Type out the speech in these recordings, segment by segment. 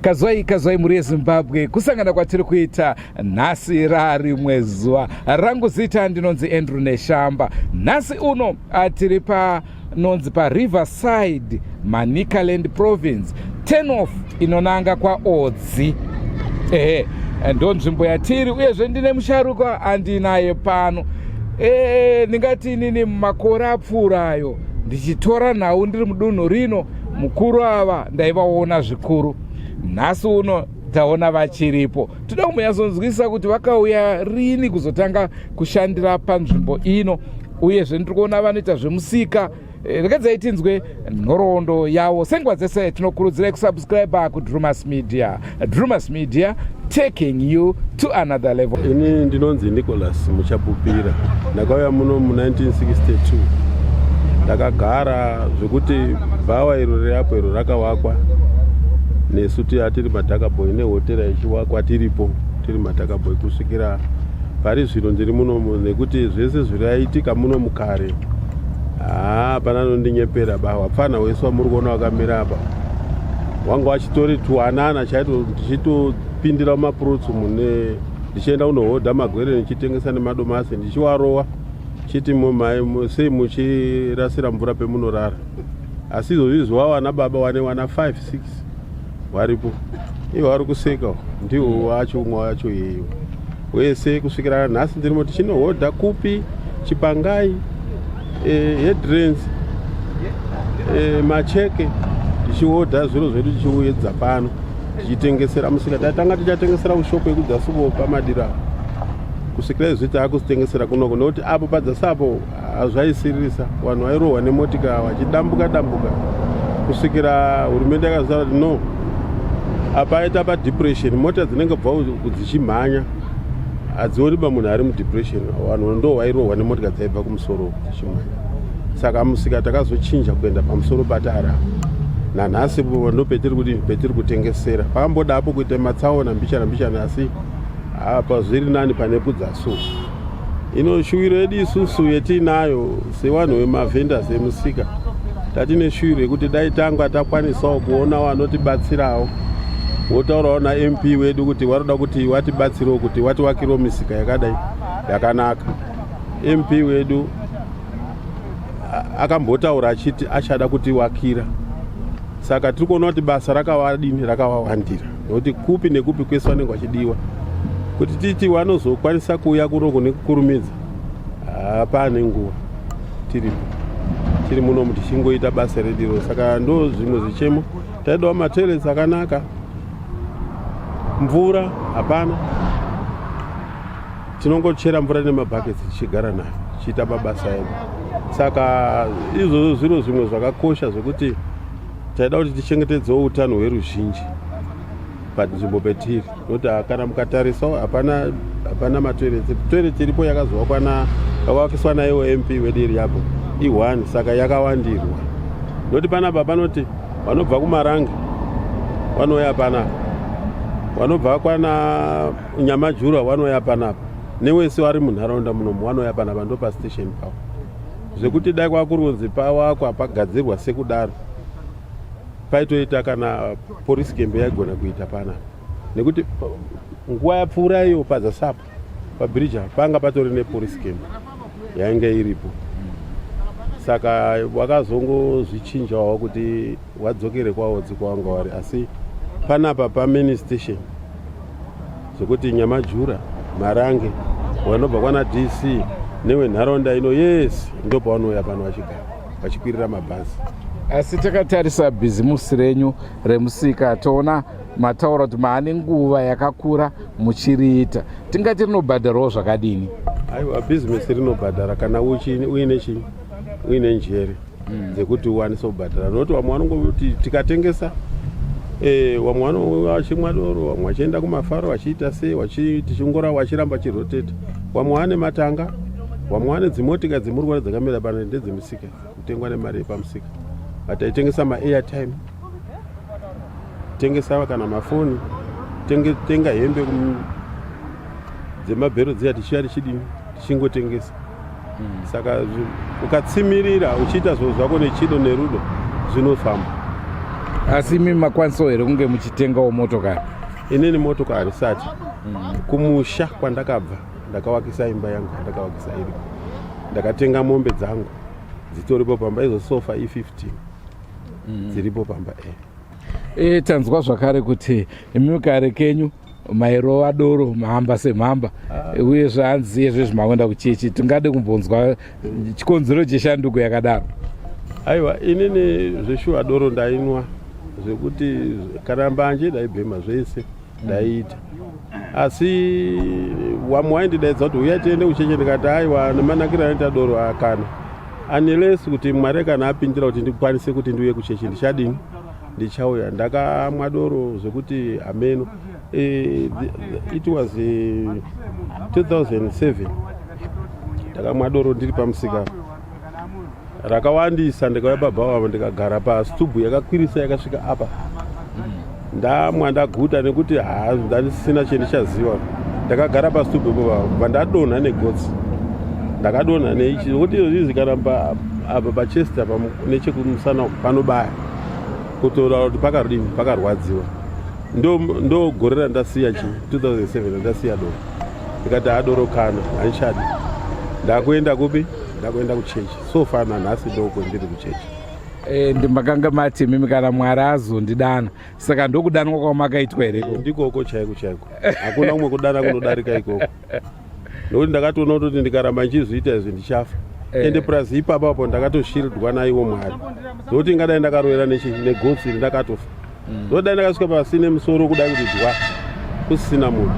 kazwai kazwai mhuri yezimbabwe kusangana kwatiri kuita nhasi rarimwe zuva rangu zita ndinonzi andrew neshamba nhasi uno atiri pa nonzi pariverside manicaland province tenof inonanga kwaodzi ehe ndonzvimbo yatiri uyezve ndine musharuka andinaye pano ee ndingati inini mumakore apfuurayo ndichitora nhau ndiri mudunhu rino mukuru ava ndaivaona zvikuru nhasi uno taona vachiripo toda kumuyasonzwisisa kuti vakauya rini kuzotanga kushandira panzvimbo ino uyezve ndiri kuona vanoita zvemusika eh, regedzai tinzwe nhoroondo yavo senguva dzese tinokurudzirai kusubscribe kudrumas media drumas media taking you to another level ini ndinonzi nicholas muchapupira ndakauya muno mu1962 ndakagara zvekuti bhawa iro reapo iro rakawakwa nesu tiatiri matakaboy nehotera ichiwakwa tiripo tiri matakaboy kusvikira pari zvino ndiri munomu nekuti zvese zviraitika muno mukare haa pana anondinyepera ba wapfana wese wamuri kuona wakamira apa wanga wachitori tuwanana chaito ndichitopindira mumapurutsu mune ndichienda kunohodha magwere ndichitengesa nemadomasi ndichiwarowa chiti mumai sei muchirasira mvura pemunorara asi izvozvi zviwawana baba wane wana 5 6 varipo ivo vari kuseka ndiwo wacho umwe wacho yeyo wese kusvikira nhasi ndirimo tichinohodha kupi chipangai eh, headrens eh, macheke tichihodha zviro zvedu tichiuyedza pano tichitengesera musika tatanga tichatengesera kushoko yekudzasuvo pamadira kusvikira izvi taakusitengesera kunoko nokuti apo padzasapo hazvaisiririsa vanhu vairohwa nemotika vachidambuka dambuka kusvikira hurumende yakazara kuti no apa aita padepression mota dzinenge bva dzichimhanya hadzioni ba munhu ari mudepression vanhu ndo vairohwa nemotika dzaibva kumusoro dzichimhanya saka musika takazochinja kuenda pamusoro patara nanhasi ndo petiri kuti petiri kutengesera pakamboda apo kuita matsaona mbichana mbichana asi apa zviri nani pane kudzaso ino shuwiro yedu isusu yetiinayo sevanhu vemavhenders emusika tatine shuwiro yekuti dai tanga takwanisawo kuona vanotibatsirawo wotaurawo namp wedu kuti vanoda kuti watibatsirewo kuti watiwakirewo misika yakadai yakanaka mp wedu akambotaura achiti achada kutiwakira saka tiri kuona kuti basa rakavadini rakavawandira nokuti kupi nekupi kwese vanenge vachidiwa kuti titi vanozokwanisa kuuya kuno kune kukurumidza hapane nguva tiripo tiri muno mu tichingoita basa rediro saka ndo zvimwe zvichemo taidawo matoilets akanaka mvura hapana tinongochera mvura nemabhaketsi tichigara nayo tichiita mabasa edu saka izvozvo zviro zvimwe zvakakosha zvekuti taida kuti tichengetedzewo utano hweruzhinji panzvimbo petiri nokuti kana mukatarisa hapana hapana matoilet toilet iripo yakazovakwa na yakavakiswa naiwo mp wedu iri yapo i1 saka yakawandirwa nokuti panapa panoti vanobva kumaranga vanouya panapa vanobva kwana nyamajurwa vanouya panapa newese vari munharaunda munomu vanouya panapa ndopastation pavo zvekuti dai kwakurunzi pawakwa pagadzirwa sekudaro paitoita kana porisi kembe yaigona kuita pana nekuti nguva yapfuura iyo pazasapo pabiriji panga patori neporisi kembe yainge iripo saka wakazongozvichinjawo kuti wadzokere kwaodzi kwawanga wari asi panapa pamini station zvekuti nyamajura marange vanobva kwana dc newenharaunda ino yese ndopavanouya pano vachigara vachikwirira mabhazi asi takatarisa bhizimusi renyu remusika toona mataura kuti maane nguva yakakura muchiriita tingati rinobhadharawo zvakadini aiwa bhizimisi rinobhadhara kana uine chii uine njere mm. dzekuti uwanise kubhadhara nokuti vamwe vanongoti tikatengesa e, vamwe vanouya vachimwa doro vamwe vachienda kumafaro vachiita sei tichingora vachiramba chiroteta vamwe vane matanga vamwe vane dzimotika dzemurwari dzakamira pano ndedzemusika kutengwa nemari yepamusika vataitengesa maairtime tengesa kana mafoni tenga hembe dzemabhero dziya tichiya tichidini tichingotengesa mm. saka ukatsimirira uchiita zvinhu zvako nechido nerudo zvinofamba asi imi makwanisawo here kunge muchitengawo motokari inini motokari sati mm. kumusha kwandakabva ndakavakisa imba yangu ndakavakisa iri ndakatenga mombe dzangu dzitoripo pamba izo sofa i15 mm. dziripo pamba e eh. e eh, tanzwa zvakare kuti imi kare kenyu mairova doro mhamba semhamba ah. uye zvaanzi iye zvezvi makuenda kuchechi tingade kumbonzwa chikonzero cheshanduko yakadaro aiwa inini zveshuwa doro ndainwa zvekuti kana mbanje ndaibhema zvese ndaiita asi wamwe waindidaidza kuti uya tiende kucheche ndikati aiwa nemanakiro anoita doro akana unless kuti mwari kana apindira kuti ndikwanise kuti ndiuye kuchechi ndichadini ndichauya ndakamwa doro zvekuti hameno eh, it was 2007 eh, ndakamwa doro ndiri pamusika rakawandisa ndikauya baba vavo ndikagara pasitubu yakakwirisa yakasvika apa ndamwa ndaguta nekuti haa ndandisina chendichaziva ndakagara pasitubu ipo vavo vandadonha negotsi ndakadonha neichi kuti izvozvizi kana apa pachesti apa nechekumusana panobaya kutotaura kuti pakadini pakarwadziwa ndo gore randasiya chi 2007 randasiya doro ndikati adoro kana handichadi ndakuenda kupi ndakuenda kuchechi so far nanhasi ndoko ndiri kuchechi e, eh, ndimakanga mati imimi kana mwari azondidana saka ndokudanwa kwamakaitwa here ndikoko chaiko chaiko hakuna umwe kudana kunodarika ikoko nokuti ndakatoona kutoti ndikaramba ndichizviita izvi ndichafa eh. ende plus ipapa apo ndakatoshildwa naiwo mwari nokuti ingadai ndakaroera negotsi iri ndakatofa mm. nokuti dai ndakasvika pasine musoro kuda kuti dwa kusisina munhu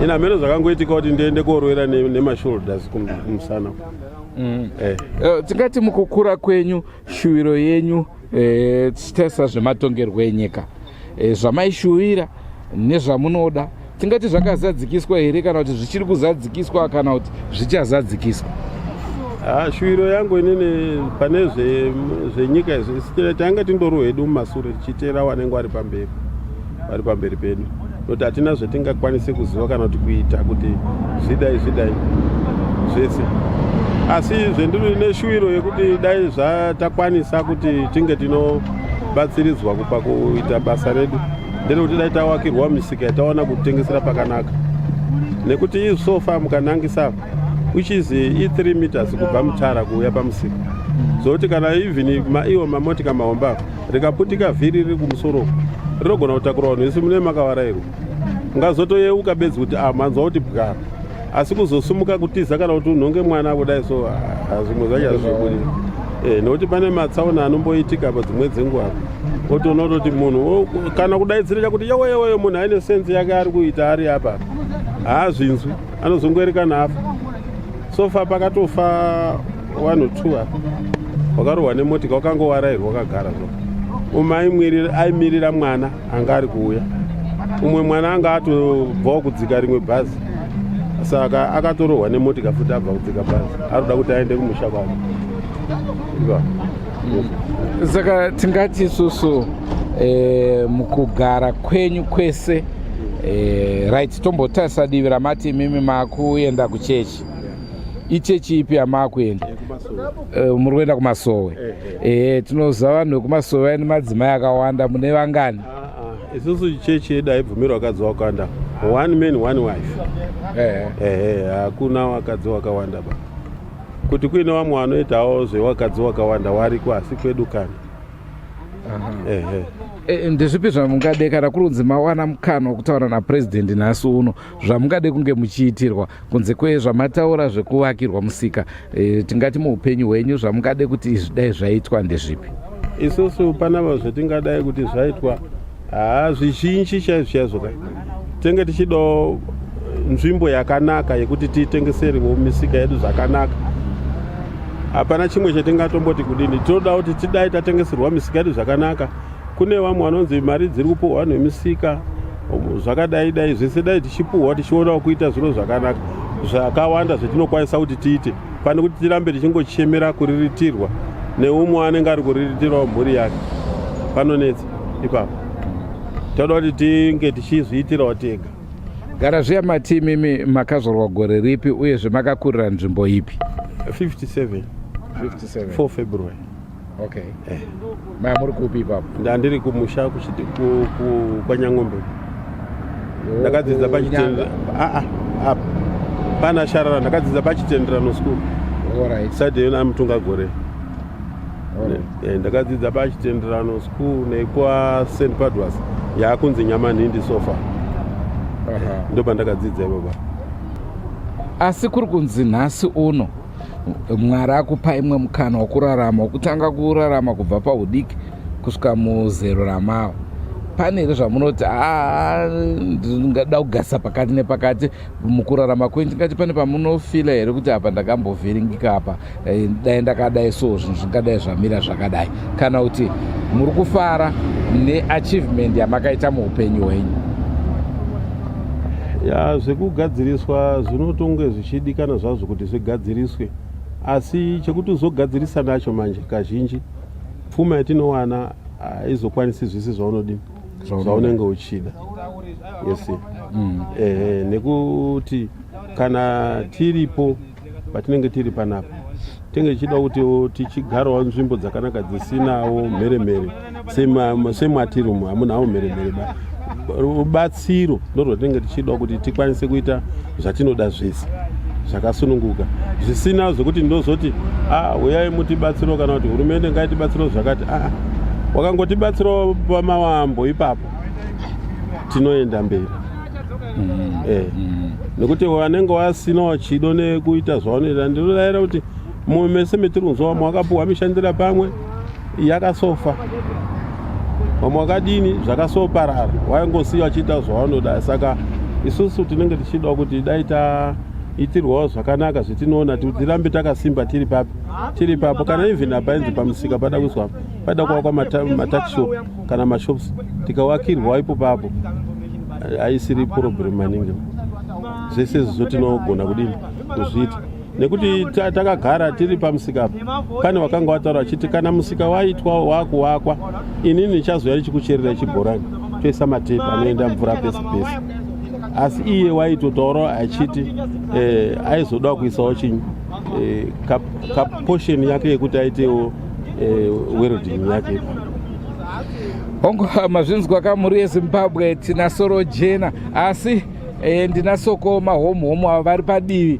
ini hameno zvakangoitika kuti ndiende koroera nemashoulders kumusana mm. eh. eh, tingati mukukura kwenyu Shuwiro yenyu eh, tesa zvematongerwo enyika eh, zvamaishuwira nezvamunoda tingati zvakazadzikiswa here kana kuti zvichiri kuzadzikiswa kana kuti zvichazadzikiswa ah, shuwiro yangu inini pane zvenyika izvi tanga tindori hedu mumasure tichiteera wanenge wari pamberi wari pamberi pedu noti hatina zvatingakwanise kuziva kana kuti kuita kuti zvidai zvidai zvese asi zvendiri neshuwiro yekuti dai zvatakwanisa kuti tinge tinobatsiridzwa kupa kuita basa redu nderekuti dai tawakirwa misika yataona kutengesera pakanaka nekuti isofa mukanangisa which is e3 meters kubva mutara kuuya pamusika zvokuti kana even maiwo mamotika mahomba rikaputika vhiri riri kumusoro rinogona kutakura vanhu vese mune makavarairwa ungazotoyeuka bedzi kuti ah, manzwa kuti bwara asi kuzosumuka kutiza kana kuti unhonge mwana kudai so ah, zvimwe zvacho hazvibudi eh, nokuti pane matsaona anomboitika pa dzimwe dzenguva otoona kutoti munhu kana kudaidzirira kuti yeweyeweyo munhu aine senzi yake ari kuita ari apa haazvinzwi anozongoerekana afa so far pakatofa one or two apa wakarohwa nemotika wakangowarairwa wakagara zvo umwe aimirira mwana anga ari kuuya umwe mwana anga atobvawo kudzika rimwe bhazi saka akatorohwa nemotika futi abva kudzika bhazi ari kuda kuti aende kumusha kwake saka tingati isusu eh, mukugara kwenyu kwese eh, right tombotarisa divi ramati imimi makuenda kuchechi ichechi ipi yamaakuenda eh, muri kuenda kumasowe ehe tinoziva vanhu vekumasowe vaine madzimai akawanda mune vangani ah, ah. isusu chechi yedu haibvumirwa vakadzi wakawanda one man one wife ehe hakuna wakadzi wakawanda ba kuti kuine vamwe vanoitawo zvevakadzi wakawanda wariko asi kwedu kana ehe E, ndezvipi zvamungade kana kurunzi mawana mukana wekutaura napurezidendi nhasi uno zvamungade kunge muchiitirwa kunze kwezvamataura zvekuvakirwa musika e, tingati muupenyu hwenyu zvamungade kuti izvi dai zvaitwa ndezvipi isusu panava zvatingadai kuti zvaitwa haa zvizhinji chaizvo chaizvo ka tenge tichidawo nzvimbo yakanaka yekuti tiitengeserewo misika yedu zvakanaka hapana chimwe chatingatomboti kudini tinoda kuti tidai tatengeserwa misika yedu zvakanaka kune vamwe vanonzi mari dziri kupuhwa vanhu vemisika zvakadai dai zvese dai tichipuhwa tichionawo kuita zviro zvakanaka zvakawanda zvetinokwanisa kuti tiite pane kuti tirambe tichingochemera kuriritirwa neumwe anenge ari kuriritirawo mhuri yake panonetsa ipapo toda kuti tinge tichizviitirawo tega gara zviya matimi imi makazorwa gore ripi uyezve makakurira nzvimbo ipi 57 4 february okay eh. maya muri kupi ipapo ndandiri kumusha kwanyang'ombe ndakadzidza pachitenda aa ah, ah, pana sharara ndakadzidza pachitenderano school right. side yona amutunga gore Eh, ndakadzidza pachitenderano school nekwa st padwas yaakunzi nyamanhindi sofa ndo pandakadzidza ivoba asi kuri kunzi nhasi uno mwari akupa imwe mukana wokurarama wokutanga kurarama kubva paudiki kusvika muzero ramava pane here zvamunoti ah, ndingada kugasa pakati nepakati mukurarama kwenyu tingati pane pamunofila here kuti apa ndakambovhiringika apa eh, dai ndakadai so zvinhu zvingadai zvamira zvakadai kana kuti muri kufara neachievement yamakaita muupenyu hwenyu ya zvekugadziriswa zvinotonge zvichidikana zvazvo kuti zvigadziriswe asi chekuti uzogadzirisa nacho manje kazhinji pfuma yatinowana haizokwanisi zvese zvaunodini zvaunenge uchida yes mm. ehe nekuti kana tiripo patinenge tiri panapa tinenge tichida kuti tichigarawo nzvimbo dzakanaka dzisinawo mheremhere sematiri umu hamunawo mheremhere ba rubatsiro ndorwatinenge tichida kuti tikwanise kuita zvatinoda zvese zvakasununguka zvisina zvekuti ndozoti ah, uyai mutibatsiro kana kuti hurumende ngaitibatsiro zvakati aa ah, wakangotibatsirawo pamawambo ipapo tinoenda mberi mm-hmm. eh. mm-hmm. nekuti wanenge wasinawo chido nekuita zvaunoita ndinodaira kuti mumwe mese metiri kunzwa vamwe vakapuhwa mishandira pamwe yakasofa vamwe vakadini zvakasoparara waingosiya vachiita zvavanoda saka isusu tinenge tichidawo kuti dai taitirwawo zvakanaka zvetinoona tirambe takasimba tiri papi tiri papo kana even apainzi pamusika pada kuiswa pada kuvakwa matakishop kana mashops tikawakirwa ipo papo aisiri problem maningi zvese izvozvo tinogona kudini kuzviita nekuti takagara tiri pamusika pane wakanga wataura achiti kana musika waitwa wakuwakwa inini ndichazoya ndichikucherera chibhorani toisa matepi anoenda mvura pese pese asi iye waitotaurawo achiti eh, aizodawo kuisawo chinyi eh, kapotion yake yekuti aitewo eh, welding yake hongu mazvinzwa kamuri yezimbabwe tina soro jena asi eh, ndinasokoma homhomo avo vari padivi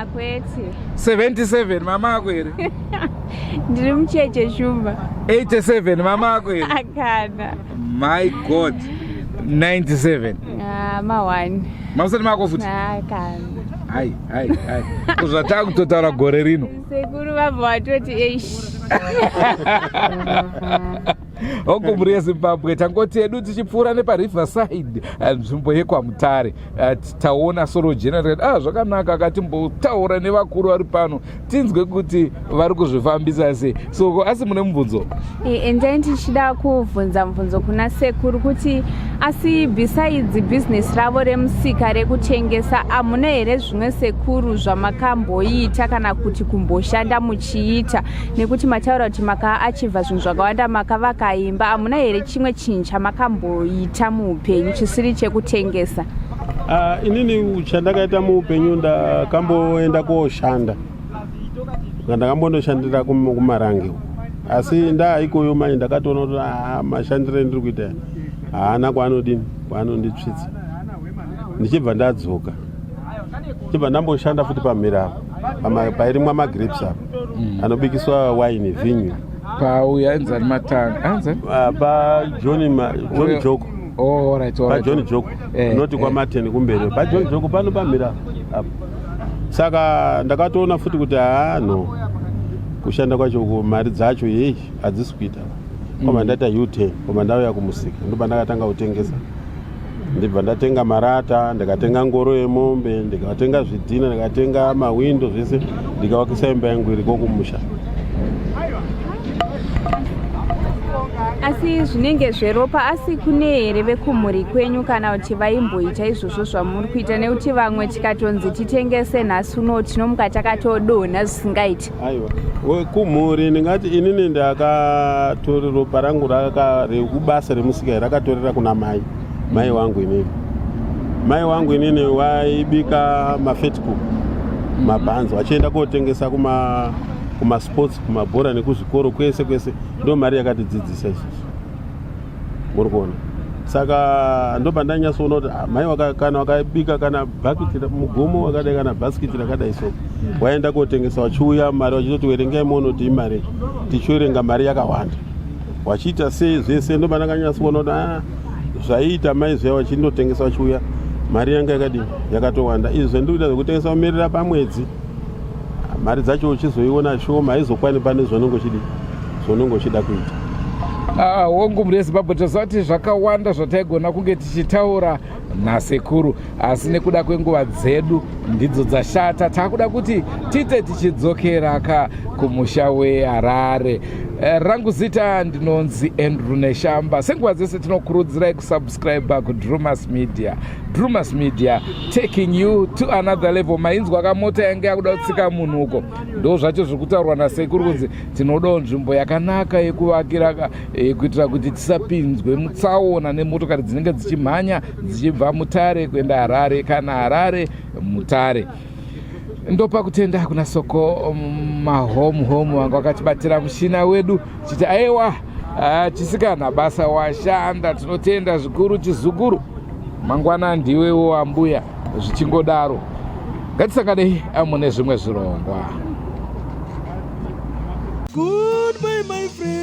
akwete 77 mama ako here ndiri mucheche shumba 87 mama ako here akana my god 97 ah, ma1 mamusati mako futi akana hai hai hai kuzvataa kutotaura gore rino sekuru vabva vatoti eish hongu mhuri yezimbabwe tangoti edu tichipfuura nepariver side eh, nzvimbo yekwamutare eh, taona solo general ah zvakanaka akatimbotaura nevakuru vari pano tinzwe kuti vari kuzvifambisa sei so asi mune mubvunzo endai eh, ndichida kubvunza mubvunzo kuna sekuru kuti asi besides business ravo remusika rekutengesa hamuna here zvimwe sekuru zvamakamboita kana kuti kumboshanda muchiita nekuti mataura kuti makaachiva zvinhu zvakawanda makavaka imba hamuna here chimwe chinhu chamakamboita muupenyu chisiri chekutengesa uh, inini chandakaita muupenyu ndakamboenda kooshanda ndakambondoshandira kumarange asi ndaa ikoyo mai ndakatoona kuti ah, mashandiro endiri kuita haana kwaanodini kwaanonditsvitsa ndichibva ndadzoka chibva ndamboshanda futi pamhira apa pairimwa magrapes apa mm. anobikiswa waini vinyu pauya ainzani matanga ainzani ah, pajohni john joko oh, pajohni joko eh, unoti eh. kwamateni kumberi pajohni joko pano pamhira apa saka ndakatoona futi kuti haa no kushanda kwacho mari dzacho yei hadzisi kuita koma mm. ndaita u ten koma ndauya kumusika ndobva ndakatanga kutengesa ndibva ndatenga marata ndikatenga ngoro yemombe ndikatenga zvidhina ndikatenga mahwindo zvese ndikavakisa imba yangu iriko kumusha asi zvinenge zveropa asi kune here vekumhuri kwenyu kana kuti vaimboita izvozvo zvamuri kuita nekuti vamwe tikatonzi titengese nhasi uno tinomuka takatodonha zvisingaiti aiwa wekumhuri ndingati inini ndakatori ropa rangu rekubasa remusikai rakatorera kuna mai mai wangu inini mai wangu inini waibika mafetcook mabhanzi vachienda kotengesa kuma kumasports kumabhora nekuzvikoro kwese kwese ndo mari yakatidzidzisa isusu uri kuona saka ndoba ndanyatsoona kuti ah, mai kana wakabika kana bhakiti mugomo wakadai kana bhasikiti rakadai so waenda kotengesa wachiuya mari wachitoti werengai moonoti imari tichiorenga mari yakawanda wachiita sei zvese ndoba ndakanyatsoona kuti ah, zvaiita mai zviya vachindotengesa vachiuya mari yanga yakadini yakatowanda izvi zvandikuita zvekutengesa kumerera pamwedzi mari dzacho uchizoiona shoma haizokwani pane zvaunenge uchidi zvaunenge uchida kuita ah, hongu mhuri yezimbabwe tazvati zvakawanda zvataigona kunge tichitaura nasekuru asi nekuda kwenguva dzedu ndidzo dzashata taakuda kuti tiite tichidzokera ka kumusha weharare eh, rangu zita ndinonzi andrew neshamba senguva dzese tinokurudzirai kusubscribe kudrumas media Drewmas Media taking you to another level. Mainzwa kamota yange yakuda kutsika munhu uko, ndo zvacho zviri kutaurwa nasekuru kunzi tinodawo nzvimbo yakanaka yekuvakira eh, kuitira kuti tisapinzwe mutsaona nemotokari dzinenge dzichimhanya dzichibva Mutare kuenda Harare kana Harare Mutare. ndopa kutenda kuna soko um, mahome home vanga vakatibatira mushina wedu chiti aiwa ah, chisikana basa washanda tinotenda zvikuru chizukuru mangwana ndiwewo ambuya zvichingodaro ngatisanganei ah, mune zvimwe zvirongwa Goodbye, my friends.